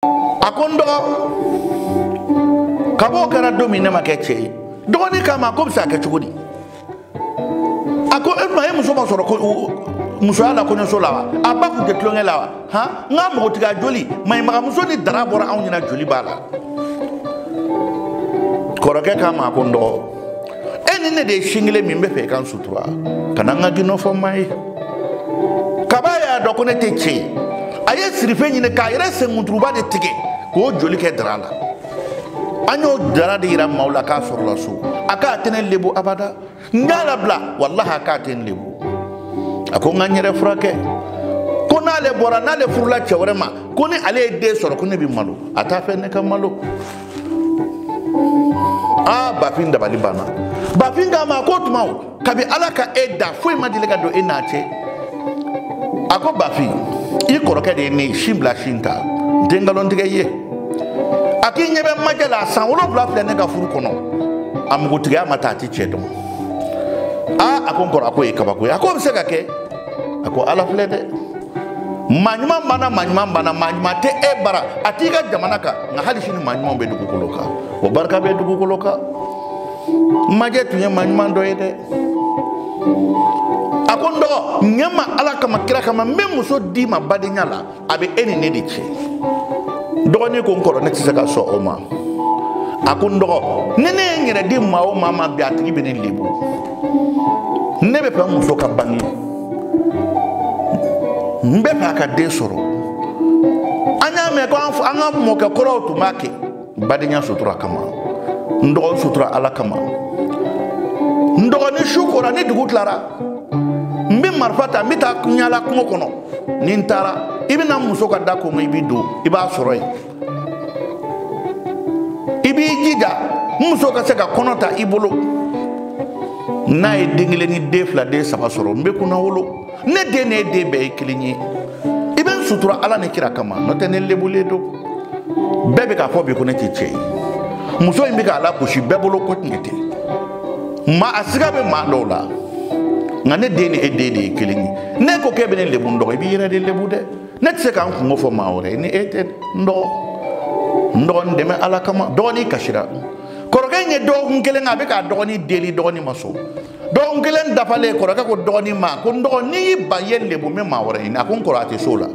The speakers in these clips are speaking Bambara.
a ko n dɔgɔ kab'o kɛra don min ne ma kɛ cɛ ye dɔgɔnin k'a ma k'o bɛ se ka kɛ cogo di a ko e ma e muso ma sɔrɔ ko musoya la kɔɲɔso la wa a ba kun tɛ tulonkɛ la wa han n ka npogotigiya joli maɲamagamuso ni dara bɔra anw ɲɛna joli b'a la kɔrɔkɛ k'a ma a ko n dɔgɔ e ni ne de ye sin kelen min n b'a fɛ i ka n sutura kana n ka gindo fɔ maa ye kab'a y'a dɔn ko ne tɛ cɛ ye a ye sirife ɲini k'a yɛrɛ senkunturuba de tigɛ k'o joli kɛ dara la an y'o dara de yira maaw la k'a sɔrɔla so a k'a tɛ ne lebu abada n k'a labila walahi a k'a tɛ n lebu a ko n ka n yɛrɛ furakɛ ko n'ale bɔra n'ale furula cɛ wɛrɛ ma ko ni ale ye den sɔrɔ ko ne bɛ malo a t'a fɛ ne ka malo a bafin dabali banna bafin k'a ma ko tuma o kabi ala ka e da foyi ma deli ka don e n'a cɛ a ko bafin i kɔrɔkɛ de ye ne sin bila sin ta n tɛ nkalon tigɛ i ye a k'i ɲɛ bɛ majɛ la san wolonwula filɛ ne ka furu kɔnɔ a npogotigiya ma ta a ti cɛ dɔn aa a ko n kɔrɔ a k'o ye kabako ye a k'o bɛ se ka kɛ a ko ala filɛ dɛ maa ɲuman banna maa ɲuman banna maa ɲuman tɛ e bara a t'i ka jamana kan nka hali sini maa ɲumanw bɛ dugukolo kan o barika bɛ dugukolo kan majɛ tun ye maa ɲuman dɔ ye dɛ a ko n dɔgɔ ɲɛ n ma ala kama kira kama n bɛ muso d'i ma badenya la a bɛ e ni ne de cɛ dɔgɔnin ko n kɔrɔ ne tɛ se ka sɔn o ma a ko n dɔgɔ ni ne ye n yɛrɛ di maa o maa ma bi a tigi bɛ ne lebu ne b'a fɛ n muso ka bange n b'a fɛ a ka den sɔrɔ an y'a mɛn ko an ka mɔkɛ kɔrɔw tun b'a kɛ badenya sutura kama n dɔgɔ n sutura ala kama n dɔgɔnin su kora ni dugu tilara n bɛ marifa ta n bɛ taa yaala kungo kɔnɔ ni n taara i bɛ na muso ka da ko ma i bɛ don i b'a sɔrɔ yen i b'i jija n muso ka se ka kɔnɔ ta i bolo n'a ye den kelen ni den fila den saba sɔrɔ n bɛ kunnawolo ne den ni e den bɛɛ ye kelen ye i bɛ n sutura ala ni kira kama n'o tɛ ne lebulen don bɛɛ bɛ k'a fɔ bi ko ne tɛ cɛ ye muso in bɛ ka lagosi bɛɛ bolo ko cɛ tɛ maa a siga bɛ maa dɔw la nka ne den ni e den de ye kelen ye n'e ko k'e bɛ ne lebu n dɔgɔ i b'i yɛrɛ de lebu dɛ ne tɛ se ka n kunko fɔ maa wɛrɛ ni e tɛ n dɔgɔ n dɔgɔ n dɛmɛ ala kama dɔgɔnin kasira kɔrɔkɛ in ye dɔgɔkun kelen a bɛ k'a dɔgɔnin deli dɔgɔnin ma sɔn dɔgɔkun kelen dafalen kɔrɔkɛ ko dɔgɔnin ma ko n dɔgɔ n'i y'i ban i ye n lebu n bɛ maa wɛrɛ ɲini a ko n kɔrɔ a tɛ s'o la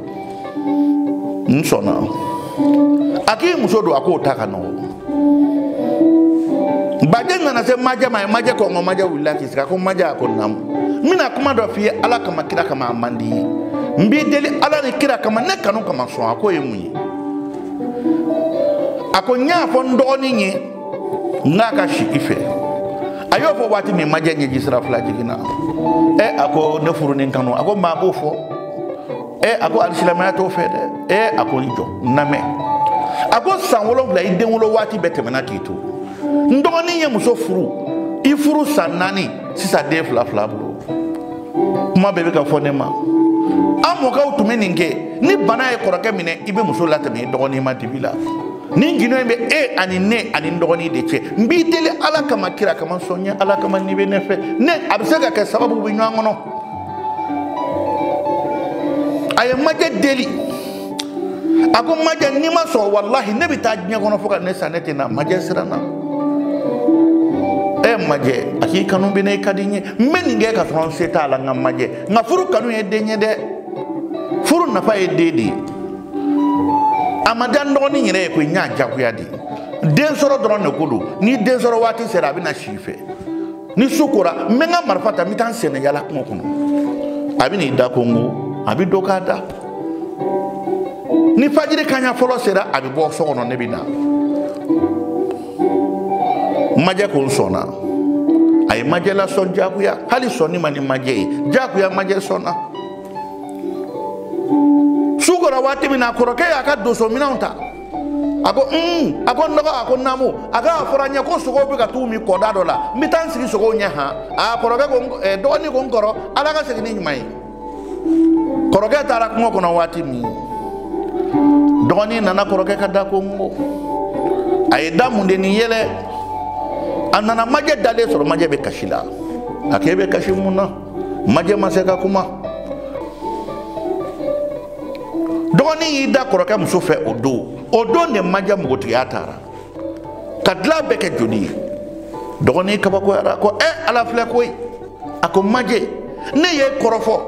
n sɔnna a k'i muso don a k'o ta ka nɔgɔn baden nana se majɛ ma a ye majɛ konkon majɛ wulila k'i sigi a ko majɛ a ko naamu n bɛna kuma dɔ f'i ye ala kama kira kama a man d'i ye n b'i deli ala ni kira kama ne kanu kama sɔn a k'o ye mun ye a ko n y'a fɔ n dɔgɔnin ye n k'a ka si i fɛ a y'o fɔ waati min majɛ ɲɛji sira fila jiginna ɛ a ko ne furu ni kanu a ko maa b'o fɔ ɛ a ko hali silamɛya t'o fɛ dɛ ɛ a ko i jɔ n lamɛn a ko san wolonfila i den wolo waati bɛɛ tɛmɛna k'i to n dɔgɔnin ye muso furu i furu san naani sisan den fila filɛ a bolo kuma bɛɛ bɛ ka fɔ ne ma an mɔkɛw tun bɛ nin kɛ ni bana ye kɔrɔkɛ minɛ i bɛ muso latɛmɛ i dɔgɔnin ma dibi la nin gundo in bɛ e ani ne ani n dɔgɔnin de cɛ n b'i deli ala kama kira kama sɔn n ye ala kama n'i bɛ ne fɛ ne a bɛ se ka kɛ sababu bɛ ɲɔgɔn kɔnɔ a ye majɛ deli a ko majɛ n'i ma sɔn walahi ne bɛ taa diɲɛ kɔnɔ fo ka ne sa ne tɛ na majɛ siranna ɛ majɛ a k'i kanu bɛ n na i ka di n ye n bɛ nin kɛ ka sɔrɔ n se t'a la nka majɛ nka furu kanu ye den ye dɛ furu nafa ye den de ye a ma diya n dɔgɔnin yɛrɛ ye koyi n y'a jagoya de den sɔrɔ dɔrɔn de ko don ni den sɔrɔ waati sera a bɛna si i fɛ ni su kora n bɛ n ka marifa ta n bɛ taa n senna yaala kungo kɔnɔ a bɛ n'i da konkon a bɛ don k'a da ni fajiri kaɲa fɔlɔ sera a bɛ bɔ so kɔnɔ ne bɛ na majɛ ko n sɔnna a ye majɛ lasɔn jagoya hali sɔnni man di majɛ ye jagoya majɛ sɔnna su kora waati min na kɔrɔkɛ y'a ka donsominɛnw ta a ko un a ko n dɔgɔ a ko naamu a ko a fɔra n ye ko sogow bɛ ka to k'u min kɔda dɔ la n bɛ taa n sigi sogow ɲɛ han a kɔrɔkɛ ko dɔgɔnin ko n kɔrɔ ala ka segin n'i ɲuman ye kɔrɔkɛ taara kungo kɔnɔ waati min dɔgɔnin nana kɔrɔkɛ ka da konkon a ye da mun de ni yɛlɛ a nana majɛ dalen sɔrɔ majɛ bɛ kasi la a k'e bɛ kasi mun na majɛ ma se ka kuma dɔgɔnin y'i da kɔrɔkɛ muso fɛ o don o don de majɛ npogotigiya taara ka dilan bɛɛ kɛ joli ye dɔgɔnin kabakoyara ko ɛ ala filɛ koyi a ko majɛ ne y'i kɔrɔfɔ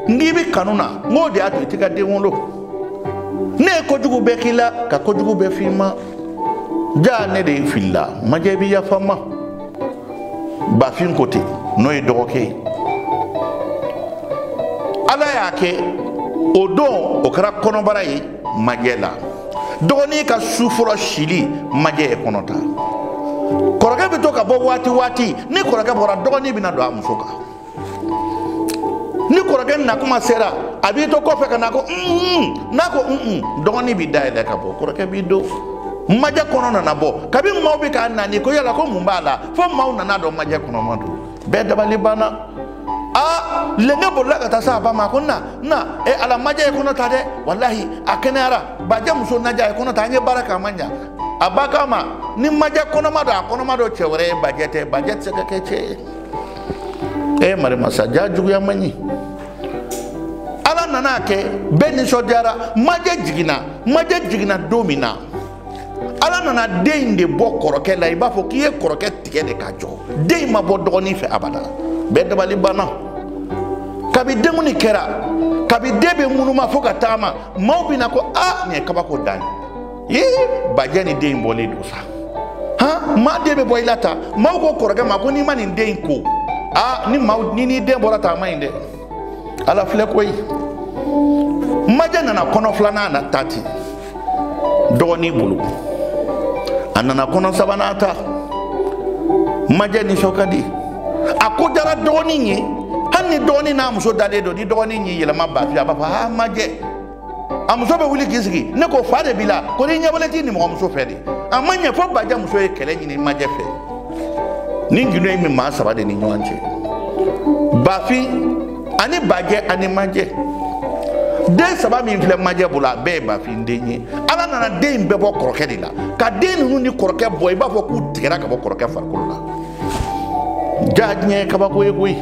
n k'i bɛ kanu na n k'o de y'a to i tɛ ka den wolo ne ye kojugu bɛɛ k'i la ka kojugu bɛɛ f'i ma jaa ne de filila majɛ i bɛ yafa n ma bafin ko ten n'o ye dɔgɔkɛ ye ala y'a kɛ o don o kɛra kɔnɔbara ye majɛ la dɔgɔnin ka su fɔlɔ sili majɛ ye kɔnɔ ta kɔrɔkɛ bɛ to ka bɔ waati waati ni kɔrɔkɛ bɔra dɔgɔnin bɛna don a muso kan ni kɔrɔkɛ nakuma sera a b'i to kɔfɛ ka na ko n'a ko dɔgɔnin bɛ da yɛlɛ ka bɔ kɔrɔkɛ b'i don majɛ kɔnɔ nana bɔ kabi maaw bɛ k'a nani ko yala ko mun b'a la fo maaw nana a dɔn majɛ kɔnɔma don bɛɛ dabali banna aa lenge bolila ka taa se a ba ma ko na na e ala majɛ ye kɔnɔ ta dɛ walahi a kɛnɛyara bajɛ muso majɛ ye kɔnɔ ta an ye baara kɛ a ma ɲa a ba k'a ma ni majɛ kɔnɔma don a kɔnɔma don cɛ wɛrɛ ye bajɛ tɛ bajɛ tɛ se ka kɛ cɛ ye e eh, mari masa jaa juguya man ɲi ala nana a kɛ bɛɛ nisɔndiyara majɛ jiginna majɛ jiginna don min na ala nana den in de bɔ kɔrɔkɛ la i b'a fɔ k'i ye kɔrɔkɛ tigɛ de k'a jɔ den in ma bɔ dɔgɔnin fɛ abada bɛɛ dabali banna kabi denkundi kɛra kabi den bɛ ŋunuma fo ka taama maaw bɛ na ko a nin ye kabako dan ye ye bajɛ ni den in bɔlen don sa han maa den bɛ bɔ i la tan maaw ko kɔrɔkɛ ma ko n'i ma nin den in ko aa ni maaw ni n'i den bɔra tan a man ɲi dɛ ala filɛ koyi majɛ nana kɔnɔ filanan na ta ten dɔgɔnin bolo a nana kɔnɔ sabanan ta majɛ nisɔn ka di a ko diyara dɔgɔnin ye hali ni dɔgɔnin n'a muso dalen don ni dɔgɔnin y'i yɛlɛma bafin a b'a fɔ aa majɛ a muso bɛ wuli k'i sigi ne ko fa de b'i la ko n'i ɲɛbɔlen t'i nimɔgɔmuso fɛ de a ma ɲɛ fo bajɛ muso ye kɛlɛ ɲini majɛ fɛ ni gindo in bɛ maa saba de ni ɲɔgɔn cɛ bafin ani bajɛ ani majɛ den saba min filɛ majɛ bolo a bɛɛ ye bafin den ye ala nana den in bɛɛ bɔ kɔrɔkɛ de la ka den ninnu ni kɔrɔkɛ bɔ i b'a fɔ k'u tigɛra ka bɔ kɔrɔkɛ farikolo la jaa diɲɛ ye kabako ye koyi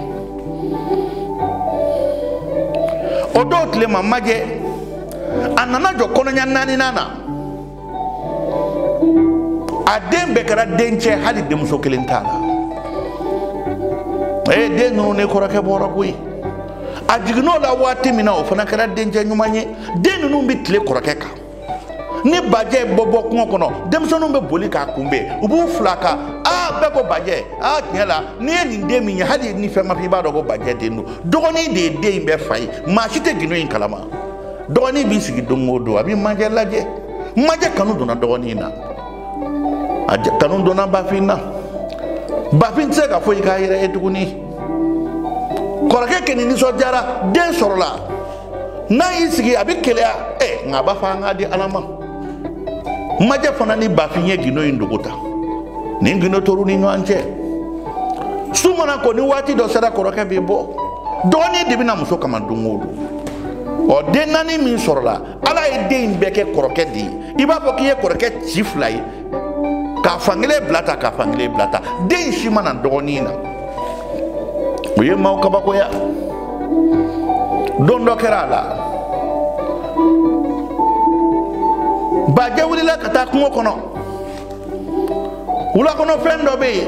o don tile ma majɛ a nana jɔ kɔnɔɲa naaninan na a den bɛɛ kɛra dencɛ hali denmuso kelen t'a la ee den ninnu ni kɔrɔkɛ bɔra koyi a jiginn'o la waati min na o fana kɛra dencɛ ɲuman ye den ninnu bɛ tilen kɔrɔkɛ kan ni bajɛ bɛ bɔ kungo kɔnɔ denmisɛnninw bɛ boli k'a kunbɛn u b'u fil'a kan aa bɛɛ ko bajɛ aa tiɲɛ la n'i ye nin den min ye hali ni fɛn ma f'i b'a dɔn ko bajɛ den don dɔgɔnin de ye den in bɛɛ fa ye maa si tɛ gindo in kalama dɔgɔnin b'i sigi don o don a bɛ majɛ lajɛ majɛ kanu donna dɔgɔnin na a kanu donna bafin na bafin tɛ se ka foyi k'a yɛrɛ ye tuguni kɔrɔkɛ kɔni nisɔndiyara den sɔrɔla n'a y'i sigi a bɛ keleya ɛ eh, nka a b'a fɔ an k'a di ala ma majɛ fana ni bafin ye gindo in dogo tan nin gindo tor'u ni ɲɔgɔn cɛ su mana ko ni waati dɔ sera kɔrɔkɛ bɛ bɔ dɔgɔnin de bɛ na muso kama don o don ɔ den naani min sɔrɔla ala ye den in bɛɛ kɛ kɔrɔkɛ de ye i b'a fɔ k'i ye kɔrɔkɛ ci fila ye k'a fankelen bila ta k'a fankelen bila ta den si ma na dɔgɔnin na o ye maaw kabakoya don dɔ kɛra a la bajɛ wulila ka taa kungo kɔnɔ wulakɔnɔfɛn dɔ bɛ yen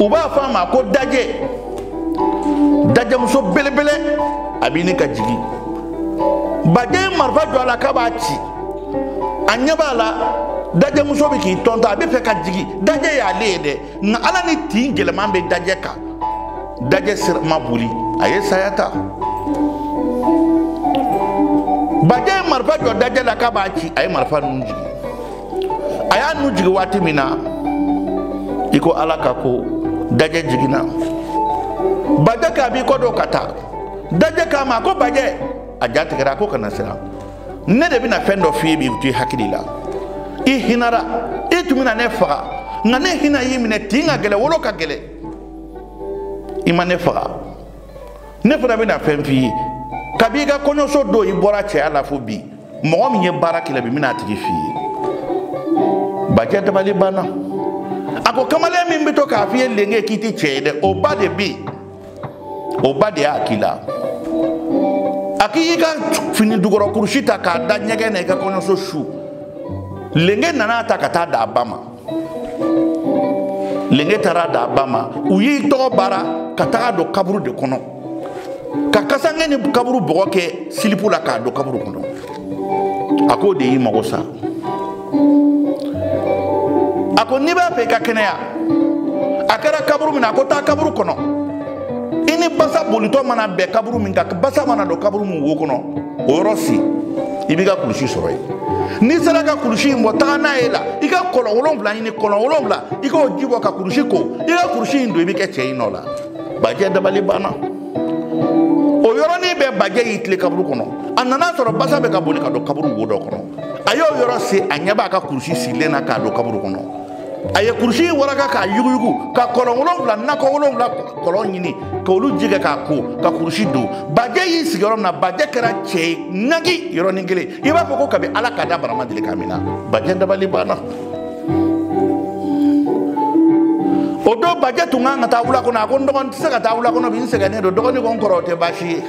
u b'a fɔ a ma ko dajɛ dajɛmuso belebele a bɛ ɲini ka jigin bajɛ ye marifa jɔ a la k'a b'a ci a ɲɛ b'a la dajɛmuso bɛ k'i tɔntɔn a b'a fɛ ka jigin dajɛ y'ale ye dɛ nka ala ni tin gɛlɛman bɛ dajɛ kan dajɛ sira ma boli a ye saya ta bajɛ ye marifa jɔ dajɛ la k'a b'a ci a ye marifa nun jigin a y'a nun jigin waati min na i ko ala ka ko dajɛ jiginna bajɛ k'a b'i kɔ don ka taa dajɛ k'a ma ko bajɛ a ja tigɛra a ko kana siran ne de bɛna fɛn dɔ f'i ye bi o to i hakili la i hinara i tun bɛna ne faga nka ne hinɛ y'i minɛ tin ka gɛlɛ wolo ka gɛlɛ i ma ne faga ne fana bɛna fɛn f'i ye kabi i ka kɔɲɔso don i bɔra cɛya la fo bi mɔgɔ min ye baara k'i la bi n bɛna a tigi f'i ye bajɛ dabali banna a ko kamalen min bɛ to k'a f'i ye lenge k'i tɛ cɛ ye dɛ o ba de bɛ yen o ba de y'a k'i la a k'i y'i ka fini jukɔrɔ kurusi ta k'a da ɲɛgɛn na i ka kɔɲɔso su lenge nan'a ta ka taa d'a ba ma lenge taar'a d'a ba ma u y'i tɔgɔ baara ka tag'a don kaburu de kɔnɔ ka kasange ni kaburu bɔgɔ kɛ silipu la k'a don kaburu kɔnɔ a k'o de y'i mago sa a ko n'i b'a fɛ i ka kɛnɛya a kɛra kaburu min na a ko taa kaburu kɔnɔ i ni basa bolitɔ mana bɛn kaburu min kan basa mana don kaburu min wo kɔnɔ o yɔrɔ sen i b'i ka kulusi sɔrɔ yen n'i sera ka kulusi in bɔ taga n'a ye la i ka kɔlɔn wolonwula ɲini kɔlɔn wolonwula i k'o ji bɔ ka kulusi ko i ka kulusi in don i bɛ kɛ cɛ y'i nɔ la bajɛ dabali banna o yɔrɔnin bɛɛ bajɛ y'i tilen kaburu kɔnɔ a nana sɔrɔ basa bɛ ka boli ka don kaburu wo dɔ kɔnɔ a y'o yɔrɔ sen a ɲɛ b'a ka kurusi sirilen na k'a don kaburu kɔnɔ a ye kurusi waraka k'a yuguyugu ka kɔlɔn wolonwula nakɔ wolonwula kɔlɔn ɲini k'olu ji kɛ k'a ko ka kurusi don bajɛ y'i sigi yɔrɔ min na bajɛ kɛra cɛ ye ŋagi yɔrɔnin kelen i b'a fɔ ko kabi ala k'a da baara ma deli k'a minɛ bajɛ dabali banna o don bajɛ tun kan ka taa wula kɔnɔ a ko n dɔgɔnin tɛ se ka taa wula kɔnɔ bi n sɛgɛnnen don dɔgɔnin ko n kɔrɔ o tɛ baasi ye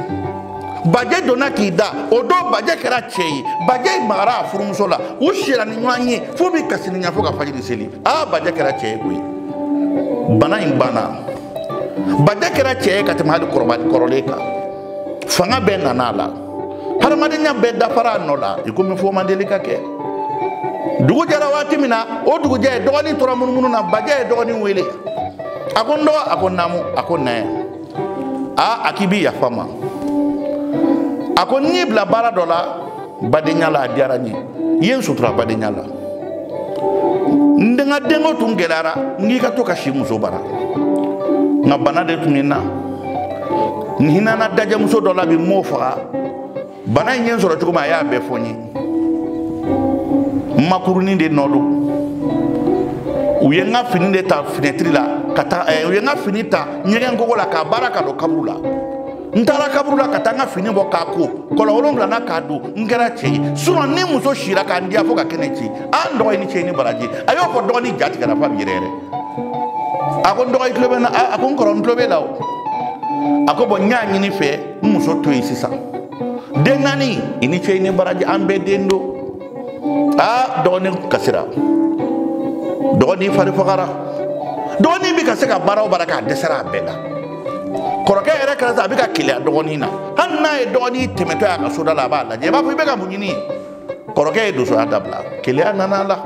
bajɛ donna k'i da o don bajɛ kɛra cɛ ye bajɛ magara a furumuso la u sira ni ɲɔgɔn ye fo bi ka sininya fo ka fajiri seli aa bajɛ kɛra cɛ ye koyi bana in banna bajɛ kɛra cɛ ye ka tɛmɛ hali kɔrɔlen kan fanga bɛɛ nana a la hadamadenya bɛɛ dafara a nɔ la i komi foyi ma deli ka kɛ dugu jɛra waati min na o dugujɛ dɔgɔnin tora munumunu na bajɛ ye dɔgɔnin wele a ko n dɔgɔ a ko naamu a ko na yan aa a k'i bɛ yafa n ma a ko n y'i bila baara dɔ la badenya la a diyara n ye i ye n sutura badenya la n ka denko tun gɛlɛyara n k'i ka to ka si muso bara nka bana de tun bɛ n na n hinana dajɛmuso dɔ la bi n m'o faga bana in ye n sɔrɔ cogo min a y'a bɛɛ fɔ n ye makurunin de nɔ don u ye n ka fini de ta finɛtiri la ka taa eh, u ye n ka fini ta ɲɛgɛn kogo la k'a baara ka don kaburu la n taara kaburu la ka taa n ka fini bɔ k'a ko kɔlɔn wolonwula na k'a don n kɛra cɛ ye surɔ n ni muso sira ka n diya fo ka kɛnɛ ci a n dɔgɔ i ni ce i ni baraji a y'o fɔ dɔgɔnin ja tigɛra fo a bɛ yɛrɛyɛrɛ a ko n dɔgɔ i tulo bɛ n na a ko n kɔrɔ n tulo b'e la o a ko bɔn n y'a ɲini i fɛ n muso to yen sisan den naani i ni ce i ni baraji an bɛɛ den don aa dɔgɔnin kasira dɔgɔnin fari fagara dɔgɔnin bɛ ka se ka baara o baara kɛ a dɛsɛra a bɛɛ la kɔrɔkɛ yɛrɛ kɛra sa a bɛ ka keleya dɔgɔnin na hali n'a ye dɔgɔnin tɛmɛtɔ y'a ka soda la a b'a lajɛ i b'a fɔ i bɛ ka mun ɲini kɔrɔkɛ ye dosoya dabila keleya nana a la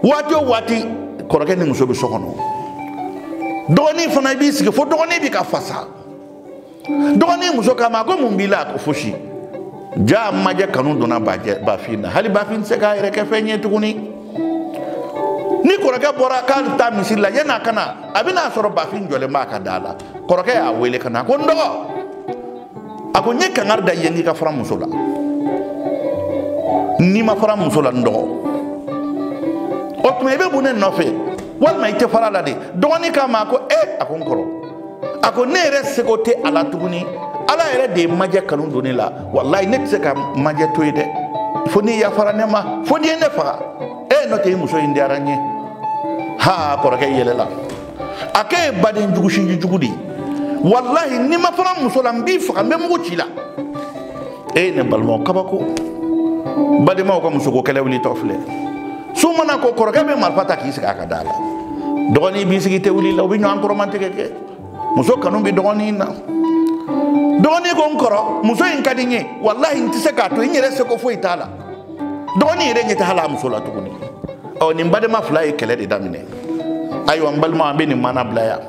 waati o waati kɔrɔkɛ ni muso bɛ so kɔnɔ dɔgɔnin fana i b'i sigi fo dɔgɔnin bɛ ka fasa dɔgɔnin muso k'a ma ko mun b'i la a ko fosi jaa majɛ kanu donna bafin na hali bafin tɛ se k'a yɛrɛ kɛ fɛn ye tuguni ni kɔrɔkɛ bɔra k'a bɛ taa misiri la yan'a ka na a bɛ n'a sɔrɔ bafin jɔlen b'a ka da la kɔrɔkɛ y'a wele ka na a ko n dɔgɔ a ko n ye kangari da i yen k'i ka fara n muso la n'i ma fara n muso la n dɔgɔ o tuma i bɛ mun ne nɔfɛ walima i tɛ fara a la dɛ dɔgɔnin k'a ma a ko ee a ko n kɔrɔ a ko ne yɛrɛ seko tɛ a la tuguni ala yɛrɛ de ye majɛ kanu don ne la walayi ne tɛ se ka majɛ to yen dɛ fo n'i yafara ne ma fo n'i ye ne faga e n'o tɛ i muso in diyara n ye ha kɔrɔkɛ yɛlɛla a k'e ye baden jugu sinji jugu de ye walayi n'i ma fara n muso la n b'i faga n bɛ mugu ci i la e ye ne balimaw kabako badenmaw ka musoko kɛlɛ wulitɔ filɛ su mana ko kɔrɔkɛ bɛ marifa ta k'i sigi a ka da la dɔgɔnin b'i sigi te wuli la u bɛ ɲɔgɔn kɔrɔmatigɛ kɛ muso kanu bɛ dɔgɔnin na dɔgɔnin ko n kɔrɔ muso in ka di n ye walahi n tɛ se k'a to n yɛrɛ sago foyi t'a la dɔgɔnin yɛrɛ ɲɛ tɛ hali a muso la tuguni ɔ nin badenma fila ye kɛlɛ de daminɛ ayiwa n balima an bɛ nin maana bila yan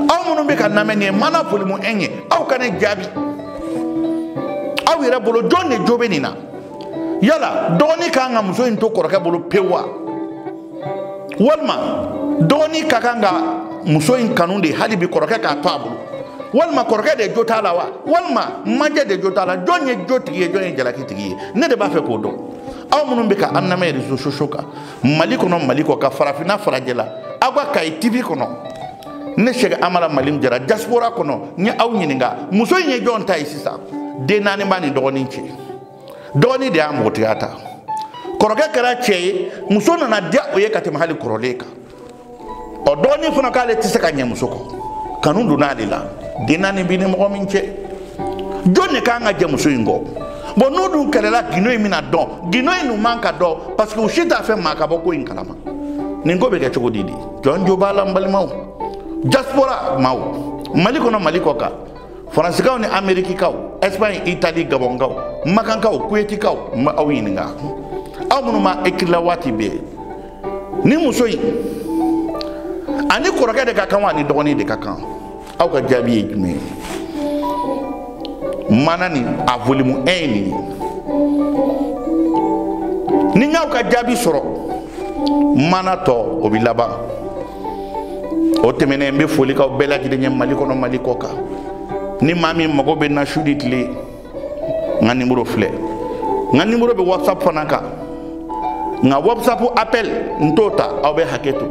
aw minnu bɛ k'a lamɛn nin ye maana volume 1 ye aw ka ne jaabi aw yɛrɛ bolo jɔn de jo bɛ nin na yala dɔgɔni ka kan ka muso in to kɔrɔkɛ bolo pewu wa walima dɔgɔni ka kan ka muso in kanu de hali bi kɔrɔkɛ k'a to a bolo walima kɔrɔkɛ de jo t'a la wa walima majɛ de jo t'a la jɔn ye jo tigi ye jɔn ye jalaki tigi ye ne de b'a fɛ k'o dɔn aw minnu bɛ ka an lamɛn réseaux sociaux kan mali kɔnɔ mali kɔ kan farafinna farajɛla aw ka kayi tv kɔnɔ ne sɛk amala mali jara diaspora kɔnɔ n ye aw ɲininka muso in ye jɔn ta ye sisan den naani b'a ni dɔgɔnin cɛ dɔgɔnin de y'a npogotigiya ta kɔrɔkɛ kɛra cɛ ye muso nana diya o ye ka tɛmɛ hali kɔrɔlen kan ɔ dɔgɔnin fana k'ale tɛ se ka ɲɛ muso kɔ kanu donna ale la den naani b'i ni mɔgɔ min cɛ jɔn de kan ka jɛ muso in kɔ bon n'u dun kɛlɛla gindo in bɛna dɔn gindo in dun man ka dɔn parce que u si t'a fɛ maa ka bɔ ko in kalama nin ko bɛ kɛ cogo di de jɔn jo b'a la n balimaw diaspora maaw mali kɔnɔ mali kɔ kan faransikaw ni amerikikaw espagne italie gabɔnkaw makankaw kuyetikaw n bɛ aw ɲininka aw minnu ma ekirila waati bɛɛ nin muso in a ni kɔrɔkɛ de ka kan wa a ni dɔgɔnin de ka kan aw ka jaabi ye jumɛn ye maana nin a volume 1 ye nin ye ni n y'aw ka jaabi sɔrɔ maana tɔ o bɛ laban o tɛmɛnen n bɛ foli k'aw bɛɛ lajɛlen ye mali kɔnɔ mali kɔ kan ni maa min mago bɛ n na su ni tile n ka nimoro filɛ n ka nimoro bɛ whatsapp fana kan nka whatsapp appel n t'o ta aw bɛ hakɛ to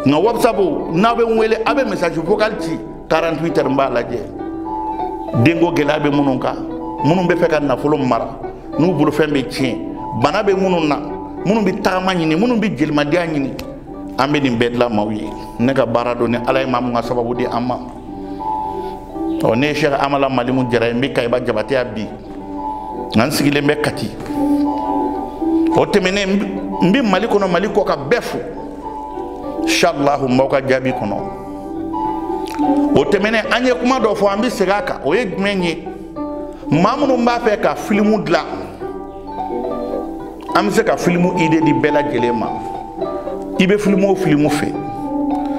nka whatsapp n'aw bɛ n wele aw bɛ message vocal ci 48 heures n b'a lajɛ denko gɛlɛya bɛ minnu kan minnu bɛ fɛ ka nafolo mara n'u bolofɛn bɛ tiɲɛ bana bɛ minnu na minnu bɛ tagama ɲini minnu bɛ jelimandiya ɲini an bɛ nin bɛɛ dilan maaw ye ne ka baara don ni ala ye maa min ka sababu di an ma ɔ ne ye sɛk amala malimu jara ye n bɛ kayiba jabateya bi nka n sigilen bɛ kati o tɛmɛnen n bɛ mali kɔnɔ mali kɔ kan bɛɛ fo inshallah n b'aw ka jaabi kɔnɔ o tɛmɛnen an ye kuma dɔ fɔ an bɛ segin a kan o ye jumɛn ye maa minnu b'a fɛ ka filimu dilan an bɛ se ka filimu ide di bɛɛ lajɛlen ma i bɛ filimu o filimu fɛ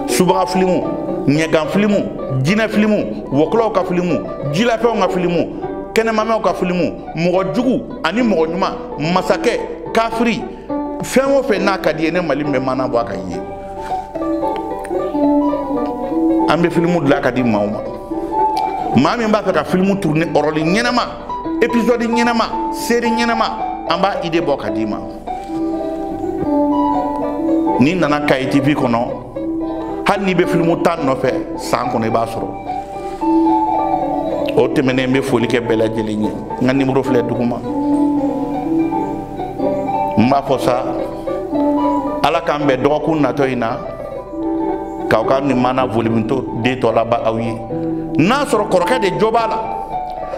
subaga filimu ɲɛgan filimu jinɛ filimu wɔkulɔw ka filimu jilafɛnw ka filimu kɛnɛmamɛw ka filimu mɔgɔ jugu ani mɔgɔ ɲuman masakɛ kafiri fɛn o fɛn n'a ka d'i ye ne mali bɛ maana bɔ a kan yen an bɛ filimu dilan k'a di maaw ma maa min b'a fɛ ka filimu turune ɔrɔli ɲɛnama episode ɲɛnama seri ɲɛnama an b'a ide bɔ k'a d'i ma n'i nana kayi tv kɔnɔ hali n'i bɛ filimu tan nɔfɛ san kɔnɔ i b'a sɔrɔ o tɛmɛnen n bɛ foli kɛ bɛɛ lajɛlen ye n ka nimoro filɛ duguma n b'a fɔ sa ala k'an bɛn dɔgɔkun natɔ in na k'aw ka nin maana voliminto de tɔ laba aw ye n'a sɔrɔ kɔrɔkɛ de jo b'a la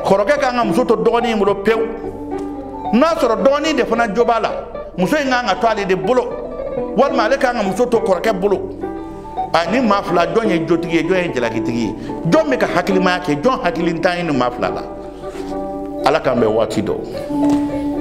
kɔrɔkɛ ka kan ka muso to dɔgɔnin in bolo pewu n'a sɔrɔ dɔgɔnin de fana jo b'a la muso in ka kan ka to ale de bolo walima ale ka kan ka muso to kɔrɔkɛ bolo ani maa fila jɔn ye jotigi ye jɔn ye jalakitigi ye jɔn bɛ ka hakilimaya kɛ jɔn hakilintan ye nin maa fila la ala k'an bɛn waati dɔ